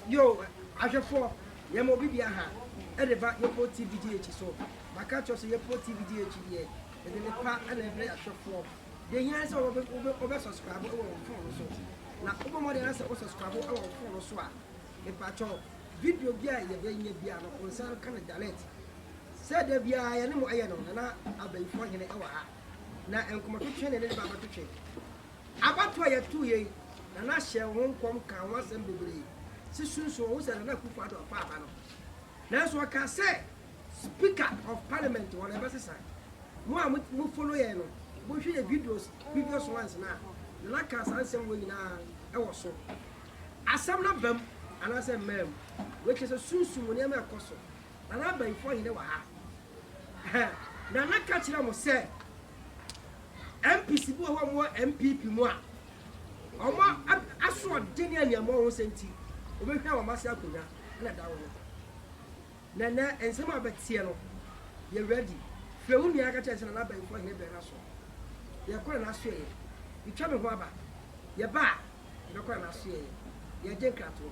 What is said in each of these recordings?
yo ahwɛfoɔ yɛma obi bia ha ɛde ba yɛpɔ tv di akyi so maka kyerɛ so yɛpɔ tv di akyi deɛ ɛde ne pa ɛna ɛbrɛ ahwɛfoɔ deɛ hia sɛ wobɛ subscribe wɔ wo phone no so na wobɔ mmɔden asɛ wo subscribe wɔ wo phone no so a mepakyɛw video bi a yɛbɛnya bia no wo nsa no ka no direct Sɛ da biara yɛne mo yɛ no, Nana Abayifo Hene wɔ ha, na nkɔmmɔtwetwe ne ne ba bɛtwetwe. Abatoɔ a yɛtoeɛ yi, Nana hyɛɛ ho nkɔm kaa ho asɛm bebree, si sunsuu ho sɛ Nana Akufo Addo afa aba no. Nanso ɔkaa sɛ Speaker of Parliament hɔ no ɛbɛsesa. Mo a mo follow yɛn no, mohwɛ yɛn videos previous ones no a, Nana kaa saa nsɛm wei nyinaa wɔ so. Asɛm no aba mu anaasɛ mmaa mu, wei kyerɛ sɛ sunsuu mu nneɛma ɛkɔ so Nana abayifoɔ hene wɔ ha ɛhɛn Nana ka kyerɛ mo sɛ MPs bi wɔ hɔ a wɔwɔ NPP mu a wɔn asoɔden ne aniammɔn ho sɛ nti wɔbɛhwia wɔn ase akonnwa na ɛda wo ho na ɛnɛ nsɛm a bɛteɛ no yɛ ready frɛ wo nua ka kyerɛ sɛ Nana abayifoɔ hene bɛn n'aso yɛkɔ Nana asoɛyɛ yɛtwa me ho aba yɛba a yɛbɛkɔ Nana asoɛyɛ yɛgye nkratoɔ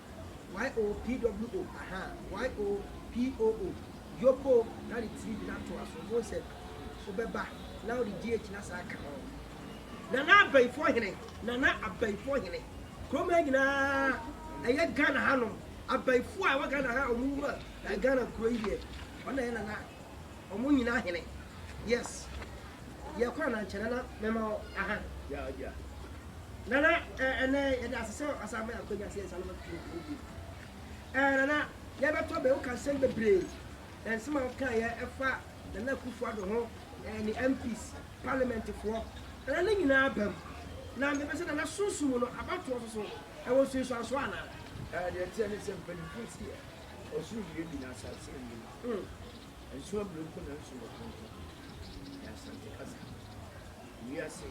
YOPWO, aha, YOPOO, yopo, na wode tiri bi no atoa so. Wobohu sɛ wobɛba na wode GH no asan aka ho. Nana Abayifoɔ Hene, Nana Abayifoɔ Hene. Kurom ha nyinaa ɛyɛ Ghana hanom. Abayifoɔ a ɛwɔ Ghana ha a wɔwɔ mu a, ɛyɛ Ghana kuro yi deɛ, wɔn na ɛyɛ Nana Ɔmo nyinaa hene yes. Yɛ kɔ anankyɛ nana mɛma wo aha. Yeah yeah. Nana eh, ɛnɛ yɛde ase sɛ ɔsan ma akwanya sɛ yɛsan no bɛto no bio bio. Eh, nana yɛbɛtɔ bɛ woka nsɛm bebree na nsɛm a woka yɛ ɛfa nana akufo ado ho eh, ne MPs parliament foɔ nana ne nyinaa bam na mepɛ sɛ nana sunsum no abatoɔ so so ɛwɔ nsuansuansoɔ anaa. Eh, deɛ ɛteɛ ne sɛ mpanyinfoɔ si yɛ ɔsoro mmienu na asase mmienu. Mm. Nsuo abiri mpo na nsuo wɔ tɔntɔ ɛyɛ asante kasa wiase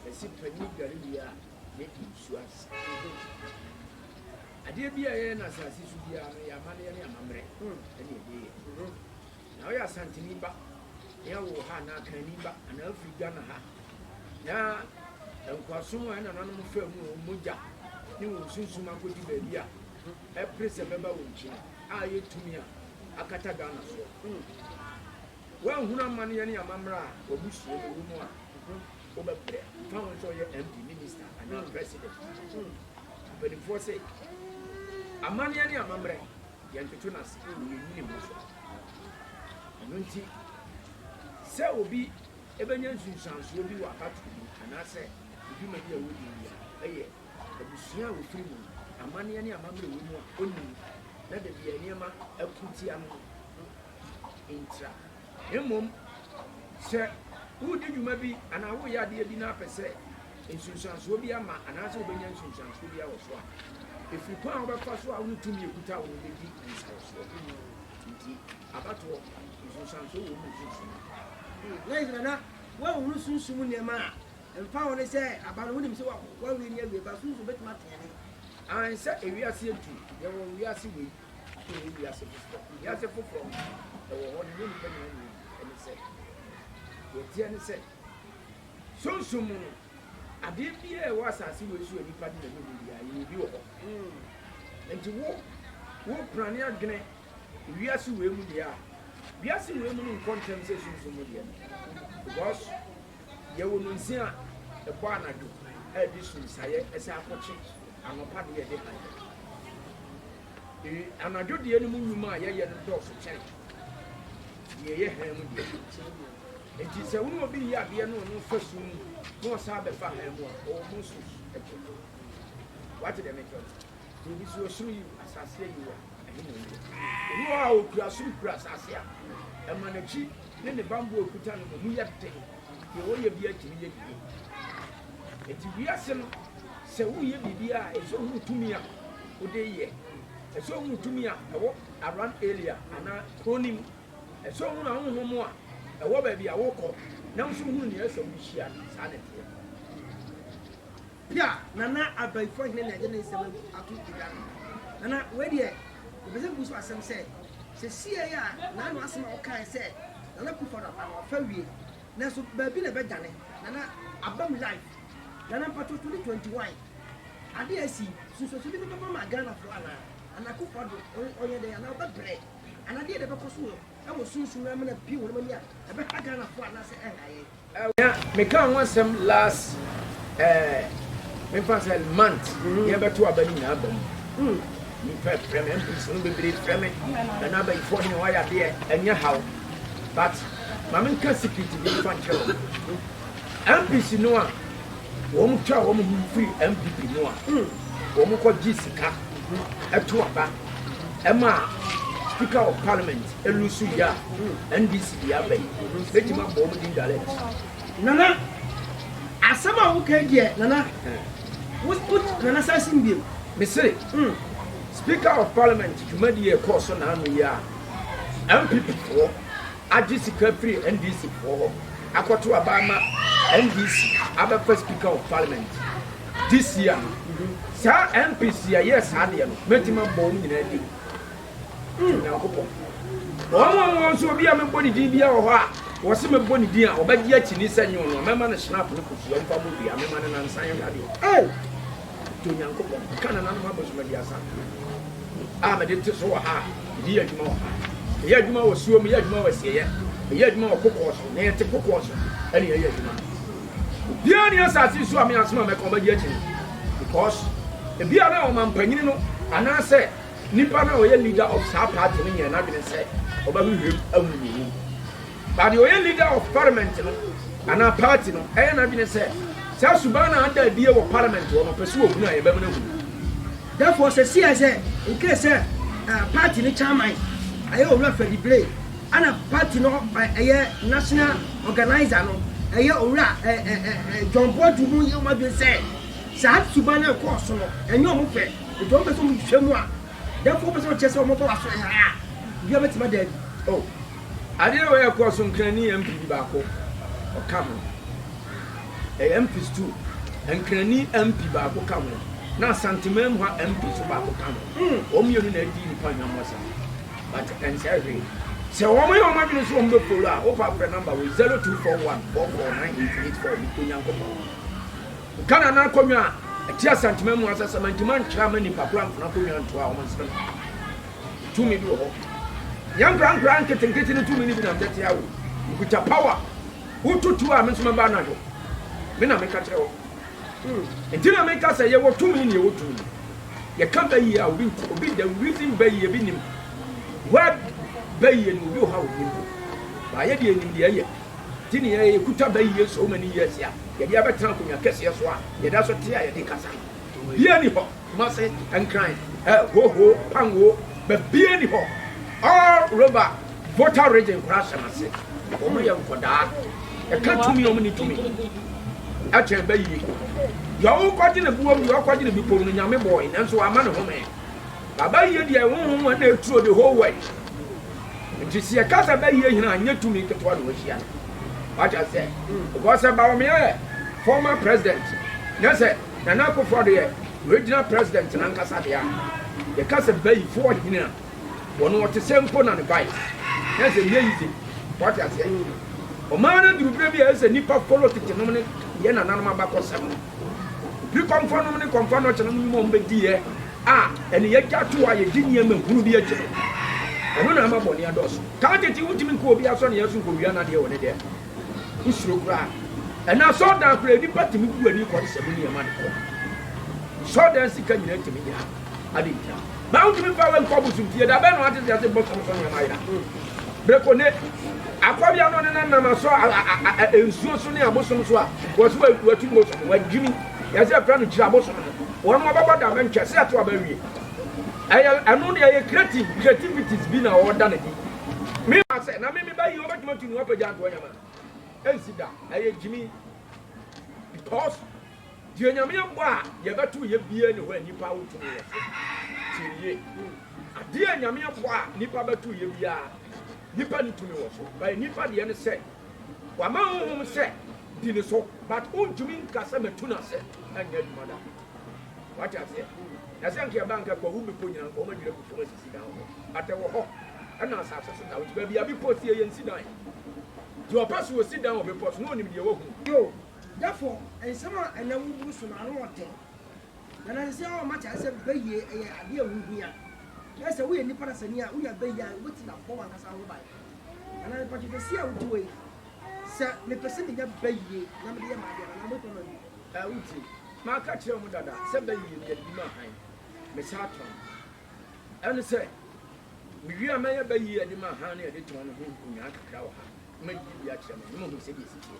ɛsi panyin dware wie a na ɛdi nsuo ase adeɛ bi a ɛyɛ na asase so biara no yɛ amaneɛ ne amammerɛ hmm. ɛne ɛde yɛ hmm. na ɔyɛ asanteni ba ne awo ha na akani ba anaa afiri ghana ha na nkoasom a ɛna nanom fa mu wɔn mogya ne wɔn sunsum akɔdi baabi a Ɛpere sɛ mɛba wo nkyen a ayɛ tumi a akata Ghana soɔ. Woanhunu amaneɛ ne amammerɛ a w'abusua mu wɔ mu a wobɛbrɛ, ɛmfa ho sɛ woyɛ MP, Minista anaa President. Mpanimfoɔ se, Amaneɛ ne amammerɛ, yɛntoto no ase na yɛnyini ho so. Ɛno nti, sɛ obi bɛnya nsunsuansoɔ bi wɔ abatoɔ mu anaasɛ ne dwumadi a ɔdi biara, ɛyɛ. abusua a wɔfiri mu, amanneɛ ne amammerɛ a ɛwɔ mu a ɔnnim, na da biara nneɛma ko tia no no ho ntira. Mmom, sɛ woredi dwuma bi anaa woreyɛ adeɛ bi na apɛ sɛ nsunsuansoɔ bi ama anaasɛ wobɛnya nsunsuansoɔ bi wɔ so a, ɛfiri kwan a wobɛfa so a wo ne tumi ɛkuta wo no bɛdi nsawosoɔ. Nti, abatoɔ, nsunsuansoɔ wɔ mu sunsum. Na Israel, na woahunu sunsum nneɛma a Ɛmfa ho ne sɛ aba no wonim sɛ wɔawe ne awie ba so nso wobɛtumi atee ne ho. Aane, sɛ ewiase adu, yɛwɔ wiase wei na yɛwɔ wiase foforɔ. Wiase foforɔ no ɛwɔ hɔ na ɛnyɛ nnipa nyinaa na ɛwɔ mu. Ɛne sɛ, deɛ ɛteɛ ne sɛ, sunsum mu no, adeɛ biara a ɛwɔ asase wei so a nnipa de n'ani hu biara, yɛwɔ bi wɔ hɔ. Enti wo, woprane adwene wiase wei mu deɛ a, wiase wei mu no nkɔ ntɛm sɛ sunsum mu deɛ no because Yɛwɔ no nsin a ɛbɔ anadwo a ɛde su nsaeɛ ɛsɛ akɔkye anɔpa deɛ ɛde hann no. Ee, anadwo deɛ no mu nnwuma a yɛyɛ no dɔɔso kyɛn deɛ ɛyɛ hann mu deɛ no. Enti sɛ wo ne obi yɛ adeɛ na ɔno fa sum mu na ɔsan bɛfa hann mu a, ɔwɔ Mosquitoes akyi. Wate deɛ meka no? Dabi, sɛ ɔsoro yi wu, asase ayi wu a, ɛhe na ɔwuo? Ɔwuo a ɔkura soro kura asase a ɛma n'akyi ne ne bamboɔ a ɛkuta no ma mu yɛ den, deɛ ɔyɛ biara tumi yɛ biribi. Enti wiase no, sɛ woreyɛ biribi a, ɛsɛ sɛ wohunu tumi a wode reyɛ. Ɛsɛ sɛ wohunu tumi a ɛwɔ around area anaa kuro no mu. Ɛsɛ sɛ wohunu ahonhom a ɛwɔ baabi a worekɔ na nso wohunu nea ɛsɛ sɛ wode hyia no. Saa na ɛteɛ. Bi a Nana Abayifoɔ hene na ɛde ne nsɛm agu ato dwa no. Nana, wei deɛ, mepɛ sɛ mebu so asɛm sɛ, sesei a n'ano asɛm a ɔkaeɛ sɛ Nana Akufo Addo aba no, wafa awie. Nanso baabi na ɛbɛdwane. Nana, abam live. Nana, mpakyɛw 2021, ade a asi yi, nsusuansoɔ bi bɛba ma Ghanafoɔ anaa? Nana Akufo Addo, ɔnyɛ dɛn? Anaa ɔbɛbrɛ? Anaa deɛn na ɛbɛkɔ so wɔ sunsum no amena bio hɔnom ani a ɛbɛha Ghanafoɔ anaasɛ ɛnha yɛn? Nea mekaa ho asɛm last ɛɛ mefa sɛ month mhm. yɛ bɛto aba no nyinaa aba mu nipa mhm. frɛ me mps no bebree frɛ me ɛna abayifoɔ hene wayɛ adeɛ ɛnyɛ haw but maame nka secret bi nfa nkyerɛ wɔn mps no a Wɔn twa wɔn ho firi MPP mu a, wɔn kɔ gye sika to aba. Ɛma speaker of parliament lose yɛ a, NDC deɛ aba yi, bɛtumi abɔ wɔn din direct. Nana asɛm a wo ka yi deɛ Nana wo wo Nana san si mu biom. Me se speaker of parliament dwumadie a ɛkɔɔ so naano yi a, MPP foɔ. agye sika firi NDC foɔ hɔ akɔto aba ama NDC abɛfa speaker of parliament this year no mhm. saa MPs yɛ yɛ saa deɛ no mɛtumi abɔ wɔn nyinaa din hmm. nyankopɔn wɔn wɔn wɔn nso obi a mebɔ ne din biara wɔ hɔ a wɔsi mebɔ ne din a ɔbɛgye akyini sɛ nyɛ ɔno a mɛma no snap no kosua mfa bɔ dua mɛma no nansan yɛ adeɛ Dɔ Nyankopɔn. Ka nananom abosom aduasa a mede te so wɔ ha a mede yɛ adwuma wɔ ha. Meyɛ adwuma wɔ suo, meyɛ adwuma wɔ asieeɛ, meyɛ adwuma wɔ kokoɔ so, na yɛte kokoɔ so ɛne yɛyɛ adwuma. Obiara ne asase so a me asoma mɛka wɔn agye akyiri because ebi a na wɔn mampanyini no anaasɛ nipa na ɔyɛ leader of saa party no nyɛ n'adwene sɛ ɔbɛhwehwɛ mu ahu ne mu. But deɛ ɔyɛ leader of parliament no anaa party no ɛyɛ n'adwene sɛ saa suban no a ada adie wɔ parliament hɔ no ɔpɛ sɛ ɔhunu a yɛbɛma no ahunu. Therefore sɛ si ayɛ sɛ in case sɛ ɛɛ party no chairman ɛyɛ Owura Freddie Blay ɛna party no ɛyɛ national organiser no ɛyɛ Owura ɛɛ ɛɛ John Boadu no yɛ wɔn adwene sɛ saa suban no ɛkɔɔ so no ɛnyɛ wɔn pɛ nti wɔn pɛ sɛ wɔn hwehwɛ mu a therefore wɔn pɛ sɛ wɔkyerɛ sɛ wɔn bɔ w'aso ɛyɛ a obiara bɛtumi ada adi. Oh. Adeɛ wei ɛkɔɔ so Nkrani MPD baako ɔka ho ɛyɛ MPs two Nkrani MP baako ka ho na Asante Manhwa MP nso baako ka ho wɔn mmienu na ɛdi nipa hwammɔ saa but ɛnsɛ hwee sɛ wɔn yɛ wɔn adwene so wɔn bɛ polo a wopa frɛ number wei zero two four one four four nine eight eight four nipa Onyankopɔn nka na na akɔnwa a ɛte Asante Manhwa sɛ sɛ mantumi ankyerɛ ama nipa koro amfena akɔnwa ntoa wɔn nsɛm. tumi bi wɔ hɔ. Yɛn nkorankora nketenkete no tumi no bi na mede tea wo. Wokuta power. Woto tuo a me nso mɛba anadwo. Me na meka kyerɛ wo. Nti na meka sɛ yɛwɔ tumi na yɛwɔ tumi. Yɛka ba yie a obi nte, obi nda reason ba yie bi nim. Word ba yie no obi wɔ hɔ a onim bo. Ba yɛ deɛ yɛnim deɛ yɛyɛ. Nti ne yɛ yɛkuta ba yie so many years a yɛde abɛtena akonnwa kɛseɛ so a yɛda so te a yɛde kasa no. Biribiara nni hɔ. Kumase, Nkran, Hoho, Pango, baabiara nni hɔ, all Roba Volta Region koraa hyɛ m'ase. Wɔn yɛ nkɔdaa, ɛka tumi wɔn ni tumi. Ɛkyɛn bɛ yie. Deɛ ɔkɔgye ne buom, deɛ ɔkɔgye ne bepom no nyame bɔɔe, nanso wama ne home. Baba yie deɛ honhom wɔn na ɛturo the whole world. Nti sɛ yɛka sɛ bɛ yie hena, nyɛ tumi ketewa na wɔahyia no. Wate aseɛ? Because sɛ Bawumia yɛ former president, na sɛ. Nana Akuffo Addo yɛ Regional President nankasa dea. Yɛka sɛ Bayifo ɔhene a, wɔn ɔte sɛ mpo na ne bae. Na sɛ nyɛ yidze. Wate aseɛ? Ɔmaa no aduru berɛ bi a ɛyɛ sɛ nnipa kolo tetenom ne yɛn nananom abakɔsɛm no, Opiri Kɔmfoɔnom ne Kɔmfoɔ Anɔkyenom nnwuma a wɔbɛdiiɛ a ɛne yɛagya to a yɛdi nneɛma hunu bi akyi no, ɛno na ama bɔne adɔɔso. Ka tete wontumi nkɔ obi asɔneɛ so nkɔwia n'adeɛ wɔ ne dɛm. wosuro koraa. Ɛna asɔɔdan koraa nipa tumi bu ani kɔ nsɛm nneɛma de kɔ. Nsɔɔdan sika nyinaa tumi yɛ ade ntia. Baa wotumi mfa wei nkɔ bosom fie da bɛn na wate sɛ yɛse bosom so nneɛma yera. Bere kɔ ne akɔbea no ne nanam asɔ nsuo so ne abosom so a wɔso watum bosom no wadwini yɛse ɛfrɛ no kyira bosom no wɔn wɔbɛbɔ da mɛntwɛ sɛ ɛto aba wie ɛyɛ ɛno deɛ ɛyɛ creative creativities bi na wɔda ne di Me ma sɛ, na me me ba yi ɔbɛtumi atu ne ho apagya antoa nyame a? Ɛnsi da, ɛyɛ gyimi. Because deɛ nyame abɔ a yɛbɛto yɛ biara ne hɔ a nipa wo tumi wɔ so. Tie yie. Adeɛ a nyame abɔ a nipa bɛto yɛ biara nipa ne tumi wɔ so. Bɛyɛ nipa deɛ ne sɛ wama honhom sɛ di ne so but wontumi nka sɛ matu no ase ɛnyɛ adwuma da. wate aseɛ na sɛ nka ɛba nka kwahu bepɔ nyina nka wɔadwira gu fam asisi dan wɔ hɔ but ɛwɔ hɔ ɛna asase so da nti baabi a bepɔ sie yɛ nsi dan deɛ ɔpɛ so ɔsi dan wɔ bepɔ so na ɔnim deɛ wahu yo therefore nsɛm a ɛnɛ woburu so no ano ɔden na na sɛ ɔma te asɛ bayie ɛyɛ adeɛ a ɛho hia na sɛ woyɛ nipa dasani a wonya bayie a wobɛtumi abɔ wankasa ho ban na na mepatwɛ fɛsi a wodi wɔ yi sɛ mepɛ sɛ menya bayie na mede yɛ maadeɛ na na wobɛpɛ ma bi Ɛ, wote? Maka kyerɛɛ mo dada sɛ bɛ yɛ aduanedi ma hann. Mesa atɔn no. Ɛne sɛ, mewie a mɛyɛ bɛ yɛ de ma hann ne ɛde tɔn no ho nkonyaa kakra wɔ ha. Mɛdidi bi akyerɛ mo, na moahu sɛdeɛ ɛsi teɛ.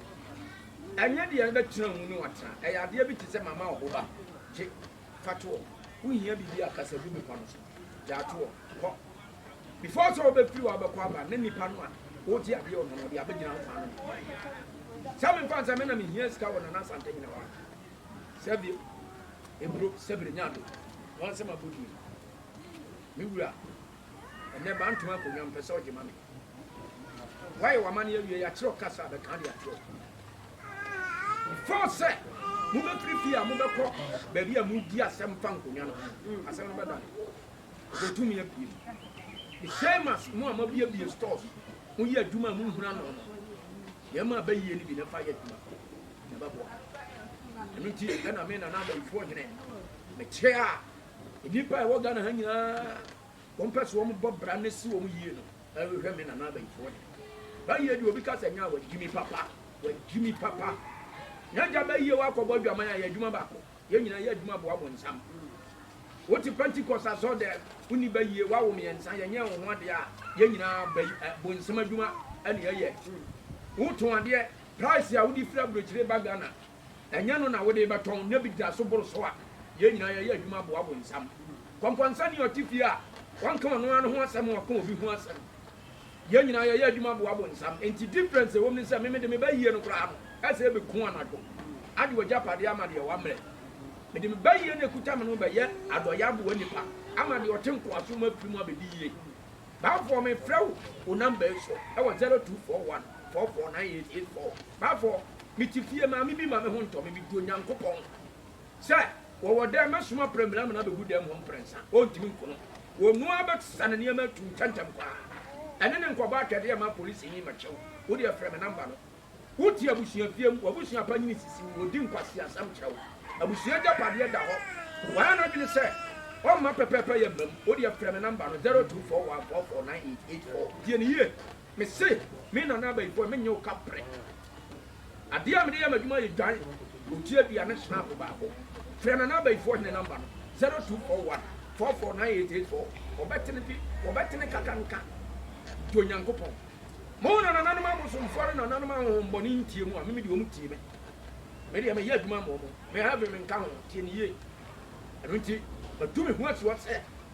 Ɛnyɛ deɛ bɛtena wo mu ne woatra. Ɛyɛ adeɛ bi te sɛ mama wo boba. Gye, fa toɔ. Wohia biribi a, kasa gu bepɔ no so. Gyaa toɔ. Kɔ. Before sɛ wobɛfiri hɔ abɛkɔ aba na nipa no a wogye adeɛ ɔno no ɔde abɛgyina wo kwan no ma kwan sɛ memfa nsɛ me na mehia sika wɔ nana asante nyina hɔ a sɛbio eburo sɛbire nyado wɔn sɛ mabɔ din me wura ɛnɛ ba ntoma akonnwa mpɛ sɛ ɔgye ma me woayɛ wama no awie yɛakyerɛ ɔkasa a bɛka de akyerɛ before sɛ mobɛfiri fie a mobɛkɔ baabi a modi asɛm fa nkonnwa no asɛm no bɛdane Obetumi abue mu. The same as mo a moabuebue stores, moyɛ adwuma a monhunu ano no, nneɛma a ɛbɛyie no bi na ɛfa yɛ adwuma na ɛbɛboa. Ɛno nti ɛna me nana abayifoɔ hene mekyerɛ a nnipa a ɛwɔ Ghana ha nyinaa wɔmpɛ so wɔn bɔ bra ne si wɔn yie no ɛhwɛ me nana abayifoɔ hene. Bayie deɛ obi ka sɛ nya wagyi mi papa, wagyi mi papa. N'agya bayie wakɔbɔ adwaman a yɛ adwuma baako. Yɛn nyinaa yɛ adwuma boa bonsam. Wo te Pentecost ase ɔ dɛ wo nni ba yie, woawo mmiɛnsa, yɛnyɛɛ wo ho adeɛ a, yɛn nyinaa ba yi ɛ, bonsam adwuma na yɛyɛ. Wo tɔn adeɛ, price a wode firi aburokyire ba Ghana, ɛnyɛ no na wode bɛtɔn, na bi da so boro so a, yɛn nyinaa yɛyɛ adwuma boa bonsam. Kɔnkɔnsani a ɔte fie a, wanka ɔno ara ne ho asɛm, ɔka obi ho asɛm. Yɛn nyinaa yɛyɛ adwuma boa bonsam enti difference a ɛwɔ mu ne sɛ me mede me bayie no koraa no ɛsɛ ɛbɛku anadwo agye w'agyapadeɛ ama deɛ wammerɛ. Mede me bayie no a ɛkuta me no bɛyɛ adɔeɛ aboa nnipa ama deɛ ɔte nkoasom mu afiri mu abɛdi yie. Baafoɔ mefrɛ wo wo number yi so wɔ 0241 449884. Baafoɔ, mete fie maame bi ma me ho ntɔ me, medɔ Nyankopɔn. Sɛ wɔwɔ dɛm a, soma prɛmina ma no abɛgu dɛm hɔ mprɛnsa. Ɔrentumi nko no. Ɔno ara bɛsesa ne nneɛma atu ntɛmntɛm pa ara. Ɛne no nkɔbɔ atwɛdeɛ mma polisini mmɛkyɛ wo. Wo deɛ frɛ me nɔmba no. Wote abusuafie mu, w'abusua pa nyini sisi wo, wɔdi nkwaseasɛm kyerɛ wo. Abusua agyapadeɛ da hɔ. Wayɛ n'adwene sɛ ɔremma pɛpɛɛpɛyɛ mma mu. Wo deɛ frɛ me nɔmba no, 0241449884. Tie no yie. Me se, me nana abayifoɔ, me nyɛ wo ka brɛ. Adeɛ a mede yɛ m'adwuma yɛ dwan, otie dua ne snap baako. Frɛ nana abayifoɔ hene number no, 0241 449884. Wɔbɛtene pi, wɔbɛtene kakanka de Onyankopɔn. Mo na nananom abosomfoɔ ne nananom ahonhombɔne ntie mo a, me me deɛ wɔn tie me. Me deɛ meyɛ adwuma ma wɔn, me heaven menka ho, tie no yie. Ɛno nti, matu me ho asi hɔ sɛ,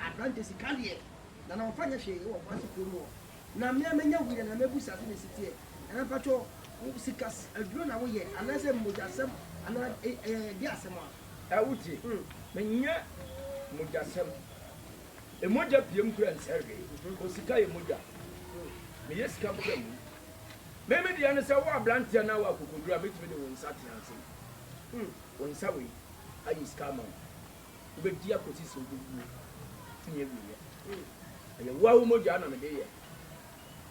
Aberante, Sika deɛ, na na wɔfa nyɛ hwee wɔ Kumase kurom hɔ. Na me a manya wui na na mabusa ase ne siteɛ. Nana mpakyɛw, wo sika aduro na wo yɛ anaa sɛ mogyasɛm anaa ɛyɛ ɛdeɛ asɛm a? Ɛ wo tie, me nyɛ mogyasɛm, mogya piem kura nsɛ hwee, o sika yɛ mogya, me yɛ sika mogya mum. Me me deɛ ne sɛ wo abranteɛ anaa wo akokoduro a mɛtumi de wo nsa tena ase yi, wo nsa wei ayi sika ama wo. wobɛdi akɔsi sɛ wobɛwuo nti ne awieɛ ɛyɛ wo a wo mogyaa na mede yɛ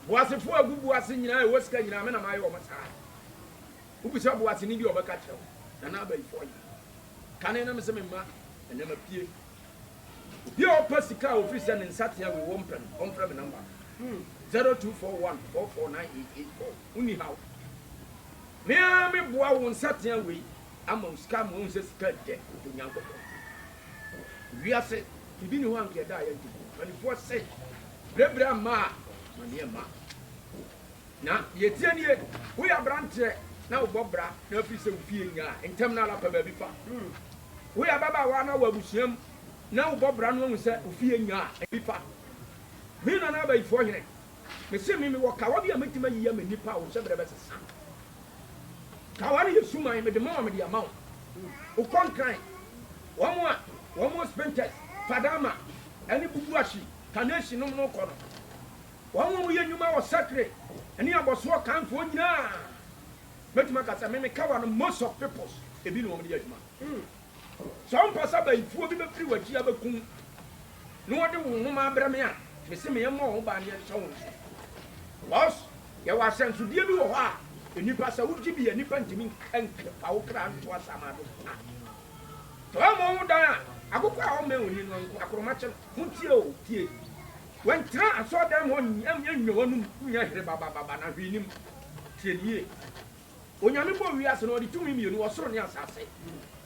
boasefoɔ agu boase nyinaa ɛwɔ sika nyinaa me na mayɛ wɔn saa wobisa boase ne bi ɔbɛka kyerɛ wo na na abayifoɔ yɛ kane na me sɛ me mma ɛnɛ mapie obi a ɔpɛ sika a ɔfiri sɛ ne nsatea wei wɔmpɛ no ɔmfrɛ me namba no 0241 449884 wonni haw mea meboa wo nsatea wei ama wo sika ama woahu sɛ sika dɛ dɔ Nyankopɔn. Wiase biribi nni hɔ a nka ɛda a yɛnte ho. Mpanimfoɔ se, Brɛbrɛ amma a, amaneɛ mma. Na deɛ ɛteɛ nie, woyɛ aberanteɛ na wobɔ bra na afiri sɛ wo fie nnya a, ntɛm no ara pɛ baabi fa. Woyɛ ababaawa na wɔ abusua mu na wobɔ bra na woahu sɛ wo fie nnya a, ɛbi fa. Hwii no anaa abayifoɔ hene. Mese me, mewɔ kawa bi a mɛtumi ayi ama nnipa a wo hyɛberɛ bɛsesa. Kawa no yɛ suman, mede ma wo a mede ama wo. Wokɔ Nkran, wɔn a wɔwɔ Sphintex, Fadama, ne Bubuashi, Carnation nom no kɔ no. Wɔn a wɔyɛ nnwuma wɔ Sekre ne Abossou Ouakam foɔ nyinaa, mɛtumi aka sɛ me, me kawa no most of peoples, ebi na wɔde yɛ adwuma. Sɛ ɔmpɛ sɛ abayifuo bi bɛfiri w'akyi abɛkum wo na ɔde wo nwoma abrɛ me a, mese me yɛmmɔ wɔn ban yɛnhyɛ wɔn so. Because yɛwɔ ahyɛnsodeɛ bi wɔ hɔ a nnipa sɛ wogye bi a nnipa ntumi mfa wo kra nto asamado a. Sɛ woammɔ wo ho dan a, akokɔ a ɔmmɛn onii no nko akorɔma kye no. Montie o, tie. Wantena asɔredan mu hɔ nnya w'anom nnya hwere babababa na hwee nni mu. Tie no yie. Onyame bɔɔ wiase no, ɔde tumi mmienu, ɔsoro ne asase.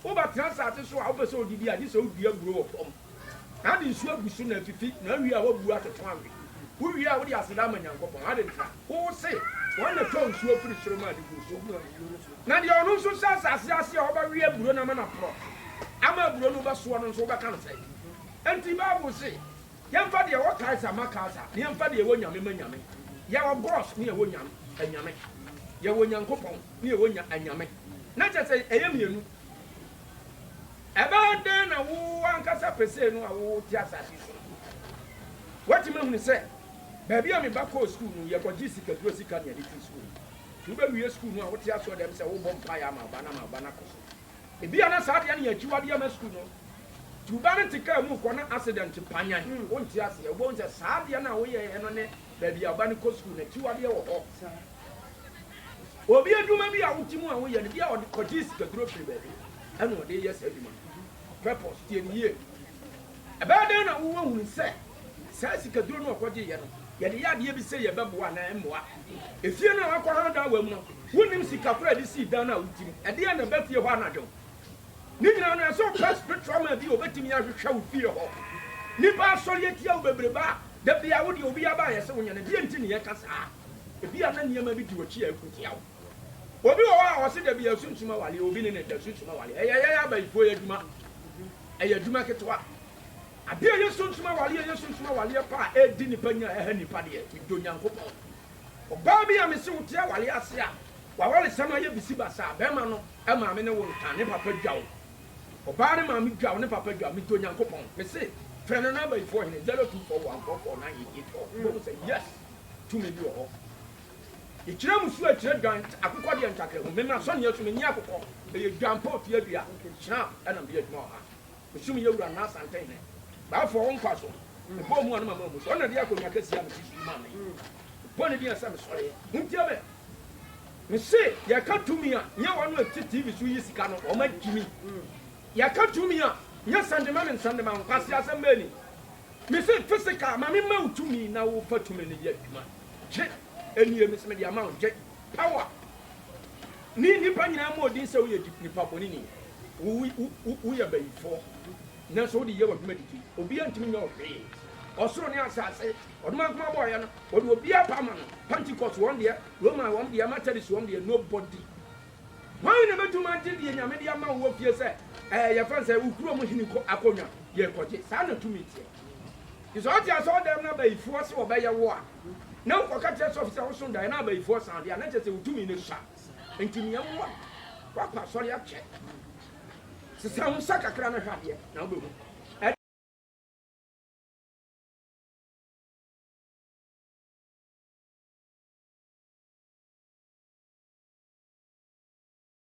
Wobɛtena asase so a, wopɛ sɛ wodidi a, gye sɛ wodua aburo wɔ fam, na wode nsuo agu so na afifi, na wowie a, woabu atoto awe. Wowie a, wode aseda ama Nyankopɔn. Ade ntra. Wose, Wɔn na ɛtɔɔ nsuo firi soro maa de guu so. Na deɛ ɔno nso hyɛ asase ase a ɔbɛwe aburo no ama no aporɔ, ama aburo no wobɛsoɔ no nso, wobɛka no sɛn? Enti Bible se. Yɛmfa deɛ ɛwɔ Kaesar ma Kaesar, na yɛmfa deɛ ɛwɔ Nyame ma Nyame. Yɛwɔ boss ne yɛwɔ Nyame, anyame. Yɛwɔ Nyankopɔn ne yɛwɔ nya, anyame. Na kyerɛ sɛ ɛyɛ mmienu. Ɛbɛyɛ dɛn na wo ankasa pesee no a wo te asase yi so no, woatumi ahunu sɛ, baabi a me ba kɔɔ sukuu no, yɛkɔgyee sikaduro sika na yɛde firi sukuu no. Nti wobɛwie sukuu no a, wote asɔre dɛm sɛ wobɔ mpaeɛ ama wo ba no ama wo ba no akɔ so. Ebia na saa adeɛ no yɛ akyiwadeɛ ma sukuu no. Sukuu baa no te kaa mu rekɔ na accident panyan. Wonte aseɛ. Wobɛhu sɛ saa adeɛ no a woyɛeɛ no ne baabi a wo ba no kɔ sukuu no, akyiwadeɛ wɔ hɔ. Obi adwuma bi a wote mu a woyɛ no, ebia ɔkɔgyee sikaduro firii baabi ɛna ɔde reyɛ saa adwuma no. Purpose, tie no yie. Ɛbɛyɛ dɛn na wobɛhunu sɛ saa sikaduro no a ɔkɔgyeeɛ no, yɛde yɛ adeɛ bi sɛdeɛ ɛbɛboa anaa ɛmmoa? Efie no a woakɔha da wɔ mu no, wonnim sika korɔ a ɛde sii dan no a wote mu. Ɛdeɛn na ɛba fie hɔ anadwo? Ne nyinaa no, ɛsɛ sɛ wopɛ spiritual man bi a ɔbɛtumi ahwehwɛ wo fie hɔ. Nnipa asɔre atia wo bebrebe a, da biara wo deɛ obiara ba a yɛse wonyane. Deɛn nti na yɛka saa? Ebia na nneɛma bi di w'akyi a ɛko tia wo. Obi wɔ hɔ a ɔse da biara sunsum awareɛ, obi ne ne da sunsum awareɛ. Ɛyɛ yɛn abayifoɔ yi adwuma. Ɛyɛ adwuma ketewa. Adeɛ a ɛyɛ sunsum awaleɛ a ɛyɛ sunsum awaleɛ pa a ɛredi nnipa nya a ɛha nnipa deɛ, medɔ Nyankopɔn. Ɔbaa bi a me se wote awaleɛ ase a w'awaresɛm ayɛ bisibasaa, bɛrima no maame ne wo nka, ne papa dwa wo. Ɔbaa no maame dwa wo, ne papa dwa wo, medɔ Nyankopɔn. Me se frɛ no n'abayifoɔ hene, 02414498 hɔ, wobɛhu sɛ yes, tumi bi wɔ hɔ. Yɛkyerɛ mu su a ɛkyerɛ dwan, akokɔ deɛ ntakra mu, memena sɔ nea so menyɛ akokɔ, ɛyɛ dwan pa otua dua, kyena ɛnam deɛ adwuma wɔ ha, mesum yɛ wura Naa Santen hene, baafoɔ wo nkwa so, mebɔɔ mu a na mama amu so, ɔna de akonnwa kɛseɛ a mete so yi maa me yi, mebɔɔ ne din a sɛ mesɔreɛ, montie me, mese yɛka tumi a nyɛ wɔn a ɛte TV so yi sika no wɔn agyimi, yɛka tumi a nyɛ sɛnde ma me nsɛnde ma wo, nkwaseasɛm bɛn ni, mese physical ma mema wo tumi na wo fa tumi no yɛ adwuma. Gye, ɛnie me se mede ama wo, gye, power ne nnipa nyinaa mmɔ odin sɛ woyɛ nipa bɔneni, wo, wo, woyɛ bayifoɔ, nanso wode yɛ w'adwuma didi, obiara ntumi nyɛ wo hwee, ɔsoro ne asase, ɔdomankoma bɔɔyɛ no, wɔde obiara pa ama no, Pentecost wɔn deɛ, Roman wɔn deɛ, Methodist wɔn deɛ, nobody. Hwan na bɛtumi agye deɛ Nyame de ama wo wɔ fie sɛ, ɛɛ, yɛfrɛ no sɛ, wo kurom hene ko, akonnwa, yɛrekɔgye, saa na tumi teɛ. Nti sɛ ɔte asɔɔdɛm na bayifoɔ se wɔbɛyɛ wo a, na wokɔka kyerɛ sɔfo sɛ woso daeɛ na bayifoɔ san deɛ a, na kyerɛ sɛ wo tumi no sua. Nti mia mu a, woakɔ asɔre atwɛ. Sesa wo nsa kakra na hwɛ adeɛ, na wobɛhu.